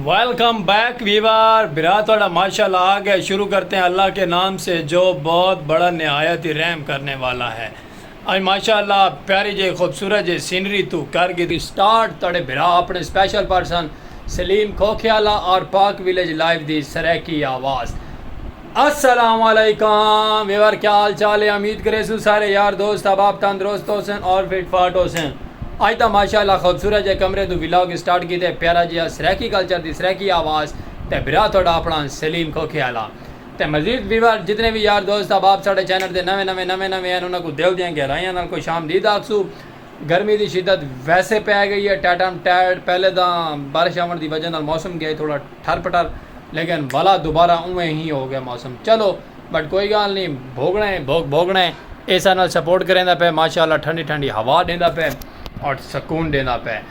Welcome back viewer بھرا تہاڈا ماشاءاللہ آ گئے شروع کرتے ہیں اللہ کے نام سے جو بہت بڑا نہایت ہی رحم کرنے والا ہے اج ماشاءاللہ پیاری جے خوبصورت جے سینری توں کر گھدی سٹارٹ تہاڈے بھرا اپنے سپیشل پرسن سلیم کھوکھیالہ اور پاک ویلیج لائیو دی سرائیکی آواز۔ السلام علیکم ویور کیا حال چال ہے امید کریسوں سارے یار دوست احباب تندرست ہوسن اور فٹ فاٹ ہوسن اج دا ماشاءاللہ خوبصورت جے کمرے دو ولاگ سٹارٹ کیتے پیارا جیا سرائیکی کلچر دی سرائیکی آواز تے بھرا تہاڈا اپنا سلیم کھوکھے آلا تے مزید ویور جتنے وی یار دوست احباب ساڈے چینل تے نویں نویں نویں نویں ہن انہاں کوں دل دیاں گہرائیاں نال خوش آمدید آکھسوں۔ گرمی دی شدت ویسے پئے گئی اے ٹیٹم ٹیٹ پہلے تاں بارش آوݨ دی وجہ نال موسم گئے تھوڑا ٹھر پٹر لیکن ولا دوبارہ اونویں ہی ہو گئے موسم چلو بٹ کوئی گالھ نی بھوگݨا اے بھوگ بھوگݨا اے ایسا نال سپورٹ کریندا پئے ماشاءاللہ ٹھنڈی ٹھنڈی ہوا ݙیندا پئے اٹ سکون ݙیندا پئے۔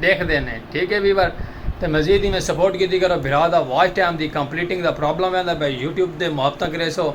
ڈیکھدے نے ٹھیک ہے ویور تے مزید ایویں سپورٹ کیتی کرو بھرا دا واچ ٹائم دی کمپلیٹنگ دا پرابلم ویندا پیا یوٹیوب دے محبتاں کریسو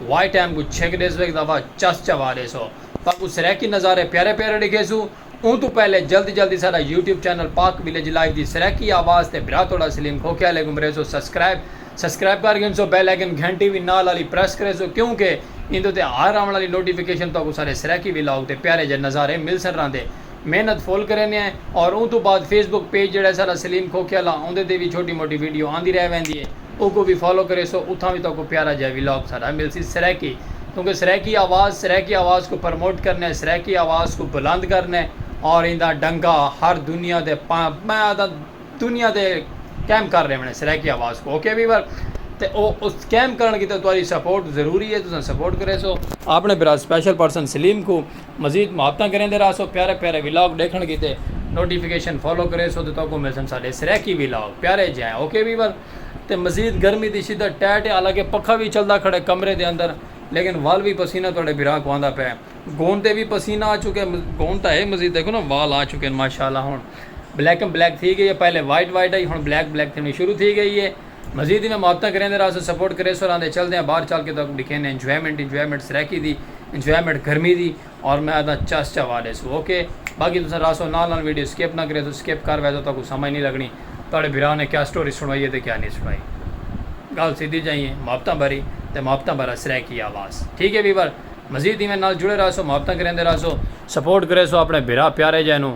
واچ ٹائم کوں چھک ڈیسو ہک دفعہ چس چوا ڈیسو تاکوں سرائیکی نظارے پیارے پیارے ڈکھیسو اوں توں پہلے جلد جلدی ساڈا YouTube channel Pak village life دی سرائیکی آواز تے بھرا تہاڈا سلیم کھوکھیا علیکم کریسو سبسکرائب سبسکرائب کر گھنسو بیل آئیکن گھنٹی وی نال آلی پریس کریسو کیوں کہ ایندے اتے ہر آون آلی نوٹیفیکیشن تہاکوں ساڈے سرائیکی ولاگ تے پیارے جے نظارے ملسن راہندے محنت فل کریندے ہیں اور اوں توں بعد فیس بک پیج جیڑھا ہے ساڈا سلیم کھوکھے آلا اوندے تے وی چھوٹی موٹی ویڈیو آندی رہ ویندی ہے اوکوں وی فالو کریسو اتھاں وی تہاکوں پیارا جیہا ولاگ ساڈا ملسی سرائیکی کیونکہ سرائیکی آواز سرائیکی آواز کوں پرموٹ کرنے سرائیکی آواز کوں بلند کرنے اور ایندا ڈنکا ہر دنیا دے میں آہداں دنیا دے قائم کر ڈیونے سرائیکی آواز کوں اوکے ویور تے او اس قائم کرن کیتے تہاڈی سپورٹ ضروری ہے تساں سپورٹ کریسو اپنے بھرا سپیشل پرسن سلیم کوں مزید محبتاں کریندے راہسو پیارے پیارے ولاگ ڈیکھنڑ کیتے نوٹیفیکیشن فالو کریسو تے تہاکوں ملسن ساڈے سرائیکی ولاگ پیارے جیاں اوکے ویور تے مزید گرمی دی شدت ٹیٹ ہے حالانکہ پکھا وی چلدا کھڑے کمرے دے اندر لیکن ول وی پسینہ تہاڈے بھرا کوں آندا پئے گون تے وی پسینہ آ چکے گون تاں ہے مزید دیکھو نا وال آ چکے ماشاءاللہ ہن بلیکم بلیک تھی گئی ہے پہلے وائٹ وائٹ آئی ہن بلیک بلیک تھینڑی شروع تھی گئی ہے مزید ایویں محبتاں کریندے راہسوں سپورٹ کریسوں راہندے چلدے آں باہر چل کے تہاکوں ڈکھیندے آں انجوائمنٹ انجوائمنٹ سرائیکی دی انجوائمنٹ گرمی دی اور میں آہداں چس چوا ڈیسوں اوکے باقی تساں راہسوں نال نال ویڈیو سکپ نہ کریسوں سکپ کر ویسو تہاکوں سمجھ نی لگنی تہاڈے بھرا نے کیا سٹوری سنڑائی ہے تے کیا نی سنڑائی گالھ سیدھی جائی ہے محبتاں بھری تے محبتاں بھرا سرائیکی آواز ٹھیک ہے ویور مزید ایویں نال جڑے راہسوں محبتاں کریندے راہسوں سپورٹ کریسوں اپنے بھرا پیارے جئے نوں۔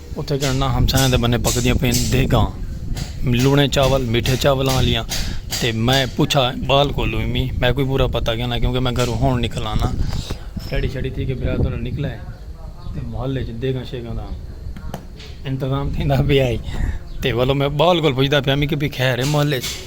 اتے گھنڑناں ہمسایاں دے بنیں پکدیاں پئین دیگاں لونے چاول میٹھے چاولاں آلیاں تے میں پچھا بال کولوں وی میں کوئی پورا پتا گھننا کیونکہ میں گھروں ہون نکلا نا ریڈی شیڈی تھی کے برا تھوڑا نکلا ہے تے محلے وچ دیگاں شیگاں دا انتظام تھیندا پیا ہے تے ولو میں بال کول پچھدا پیا میں کہ بھی خیر ہے محلے وچ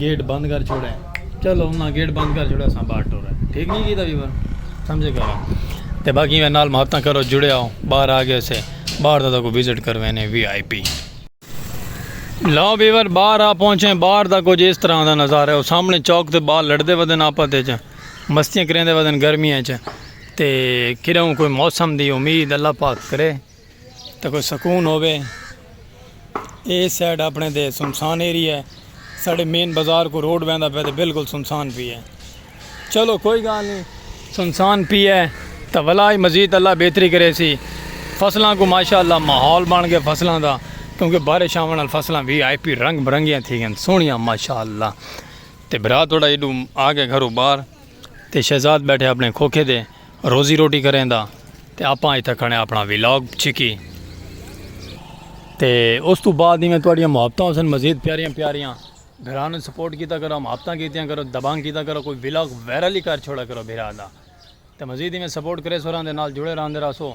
گیٹ بند کر چھوڑے چلو انہاں گیٹ بند کر چھوڑے اساں باہر ٹورے ٹھیک نہیں کیتا ویور سمجھے کرو تے باقی میں نال محبتاں کرو جڑے آؤ باہر آ گئے سے باہر دا کو وزٹ کروینے وی آئی پی لاؤ ویور باہر آ پہنچے باہر دا کچھ اس طرح دا نظارہ ہے سامنے چوک تے بال لڑدے ودن آپا تے چا مستیاں کریندے ودن گرمیاں چا تے کھڑا ہوں کوئی موسم دی امید اللہ پاک کرے تے کوئی سکون ہووے اے سائیڈ اپنے تے سنسان ایریا ہے ساڈے مین بازار کو روڈ ویندا پے تے بالکل سنسان پی ہے چلو کوئی گال نہیں سنسان پی ہے تے ولا ہی مزید اللہ بہتری کرے سی فصلاں کو ماشاءاللہ ماحول بن گئے فصلاں دا کیونکہ بارش آون نال فصلاں وی آئی پی رنگ برنگیاں تھی گن سونیاں ماشاءاللہ تے بھرا تھوڑا ایڈو آ گئے گھرو باہر تے شہزاد بیٹھے اپنے کھوکھے دے روزی روٹی کریندا تے آپاں اتھا کھڑے اپنا ویلاگ چھکی تے اس تو بعد ایویں تہاڈیاں محبتاں ہوسن مزید پیاریاں پیاریاں بھرانوں سپورٹ کیتا کرو محبتاں کیتیاں کرو دبانگ کیتا کرو کوئی ویلاگ وائرل ہی کر چھوڑا کرو بھرا دا تے مزید ایویں سپورٹ کریسو راندے نال جڑے راندے رہسو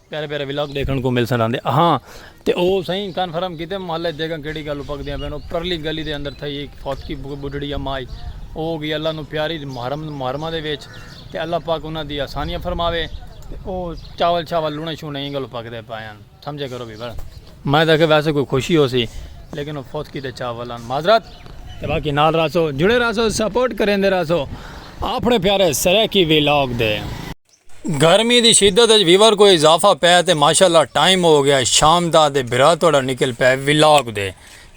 پیارے پیارے ولاگ دیکھن کو مل سن آندے ہاں تے او سائیں کنفرم کیتے محلہ جگہ کیڑی گل پک دیاں پین او پرلی گلی دے اندر تھئی ایک فوت کی بڈڑی اما آئی او گئی اللہ نو پیاری محرم محرمہ دے وچ تے اللہ پاک انہاں دی آسانیاں فرماوے تے او چاول چاول لونے شونے ایں گل پک دے پائیں سمجھے کرو بھی بڑا میں دیکھے ویسے کوئی خوشی ہو سی لیکن او فوت کی تے چاول ان معذرت تے باقی نال راسو جڑے راسو سپورٹ کریں دے راسو اپنے پیارے سرے کی ولاگ دے گرمی دی شدت اچ ویور کوئی اضافہ پے تے ماشاءاللہ ٹائم ہو گیا شام دا تے بھرا تہاڈا نکل پے ولاگ دے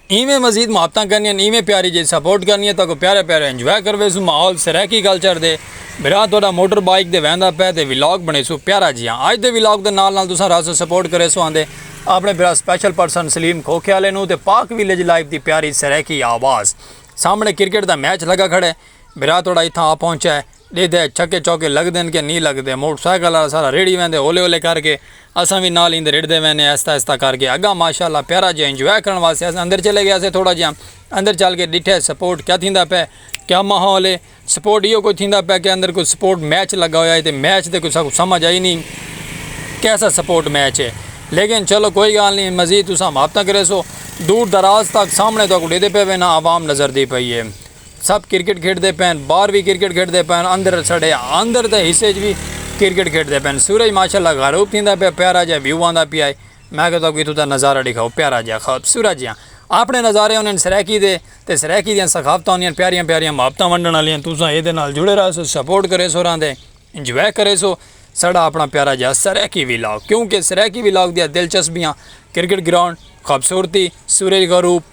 ایویں مزید محبتاں کرنیاں ایویں پیاری جیج سپورٹ کرنیاں تاکو پیارے پیارے انجوائے کرویسوں ماحول سرائیکی کلچر دے بھرا تہاڈا موٹر بائیک دے ویندا پے تے ولاگ بنیسوں پیارا جیہاں اج دے ولاگ دے نال نال تساں رہسو سپورٹ کریسو آندے اپنے بھرا سپیشل پرسن سلیم کھوکھیالے نوں تے پاک ویلیج لائیو دی پیاری سرائیکی آواز سامنے کرکٹ دا میچ لگا کھڑے بھرا تہاڈا اتھاں آ پہنچا ہے ݙیدھے چھکے چوکے لڳدن کہ نی لڳدے موٹر سائیکل آلا سارا ریڑھی ویندے ہولے ہولے کر کے اساں وی نال ایندے ریڑھدے ویندے ہئیں آہستہ آہستہ کر کے اڳاں ماشاء اللہ پیارا جیہا انجوائے کرݨ واسطے اساں اندر چلے ڳیاسے تھوڑا جیہا اندر چل کے ݙٹھے سپورٹ کیا تھیندا پئے کیا ماحول ہے سپورٹ ایہو کچھ تھیندا پئے کہ اندر کوئی سپورٹ میچ لڳا ہویا ہے تے میچ تے کوئی ساکوں سمجھ آئی نی کیسا سپورٹ میچ ہے لیکن چلو کوئی ڳالھ نی مزید تساں ماپتاں کریسو دور دراز تک سامݨے تہاکوں ݙیدھے پئے وینداں عوام نظر دی پئی ہے سب کرکٹ کھیڈدے پئن باہر وی کرکٹ کھیڈدے پئن اندر ساڈے اندر دے حصے اچ وی کرکٹ کھیڈدے پئن سورج ماشاءاللہ غروب تھیندا پیا پیارا جیا ویو آندا پیا ہے میں آکھیا تہاکوں اتھوں دا نظارہ ڈکھاؤ پیارا جیا خوبصورت جیا آپنے نظارے ہونن سرائیکی دے تے سرائیکی دیاں ثقافتاں ہوندیاں پیاریاں پیاریاں محبتاں ونڈن والیاں تساں ایدے نال جڑے رہسو سپورٹ کریسو راں دے انجوائے کریسو ساڈا اپنا پیارا جیا سرائیکی ولاگ کیونکہ سرائیکی ولاگ دیاں دلچسپیاں کرکٹ گراؤنڈ خوبصورتی سورج غروب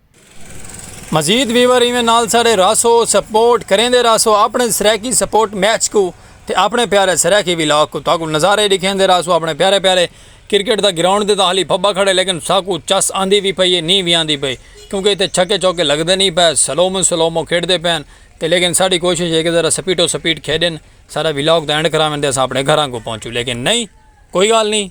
مزید ویور ایویں نال ساڈے رہسو سپورٹ کریندے رہسو اپنے سرائیکی سپورٹ میچ کو تے اپنے پیارے سرائیکی ولاگ کو تاکو نظارے ڈکھیندے رہسو اپنے پیارے پیارے کرکٹ دا گراؤنڈ دے تاہلی پھبا کھڑے لیکن ساکو چس آندی وی پئی ہے نی وی آندی پئی کیونکہ ایتھے چھکے چوکے لگدے نی پئے سلومو سلومو کھیڈ دے پین تے لیکن ساڈی کوشش ہے کہ ذرا سپیٹو سپیٹ کھیڈن ساڈا ولاگ دا اینڈ کراون دے اساں اپنے گھراں کو پہنچو لیکن نی کوئی گال نی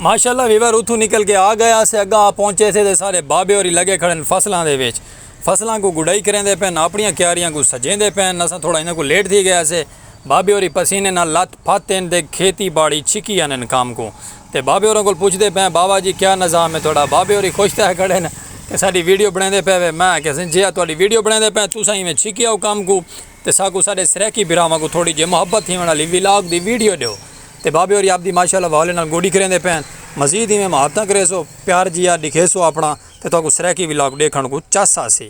ماشاءاللہ ویور اتھوں نکل کے آ گئے آسے اگاں آ پہنچے سے تے سارے بابے ہوری لگے کھڑے ہن فصلاں دے وچ فصلاں کوں گڈائی کریندے پئے ہن اپنیاں کیاریاں کوں سجیندے پئے ہن اساں تھوڑا انہاں کوں لیٹ تھی گئے آسے بابے ہوری پسینے نال لت پھت ہن تے کھیتی باڑی چھکی آنن کم کوں تے بابے ہوراں کول پچھدے پئے ہن بابا جی کیا نظام ہے تہاڈا بابے ہوری خوش تھئے کھڑے ہن کہ ساڈی ویڈیو بنڑیندے پئے وے میں آکھیا سئیں جیہاں تہاڈی ویڈیو بنڑیندے پئے ہن تساں ایویں چھکی آؤ کم کوں تے ساکوں ساڈے سرائیکی بھراواں کوں تھوڑی جی محبت تھیونڑ آلی ولاگ دی ویڈیو ڈیو۔ تے بابے ہوری آپدی ماشاء اللہ وہالے نال گوڈی کریندے پئے ہن مزید ایویں مہارتاں کریسو پیار جیہا ڈکھیسو آپنڑا تے تہاکوں سرائیکی ولاگ ڈیکھنڑ کوں چس آسی۔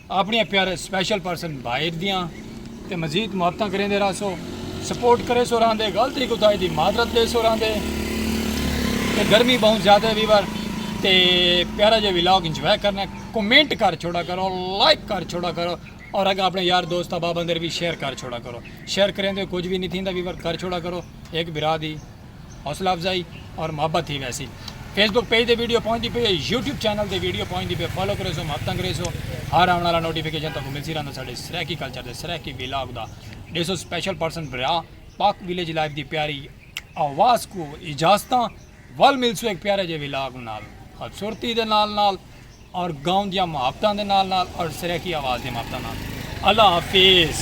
آپنڑیاں پیارے اسپیشل پرسن بھائیر دیاں تے مزید محبتاں کریندے رہسو سپورٹ کریسو راہندے غلطی کوتاہی دی معذرت دیسو راہندے تے گرمی بہوں زیادہ ہے ویور تے پیارا جے ولاگ انجوائے کرنا ہے کمنٹ کر چھوڑا کرو لائک کر چھوڑا کرو اور اگر اپنے یار دوست احباب اندر بھی شیئر کر چھوڑا کرو شیئر کریندے کچھ بھی نہیں تھیندا ویور کر چھوڑا کرو ایک بھرا دی حوصلہ افزائی اور محبت تھی ویسی فیس بک پیج دے ویڈیو پہنچ دی پئی ہے یوٹیوب چینل دے ویڈیو پہنچ دی پئی فالو کرے سو محبت انگریز ہو ہر آن والا نوٹیفیکیشن تک ملسی رہندا ساڈے سرائیکی کلچر دے سرائیکی ویلاگ دا ڈیسو سپیشل پرسن برا پاک ویلیج لائف دی پیاری آواز کو اجازتاں ول ملسو ایک پیارے جے ویلاگ نال خوبصورتی دے نال نال اور گاؤں دیاں محبتاں دے نال نال اور سرائیکی آواز دی محبتاں نال اللہ حافظ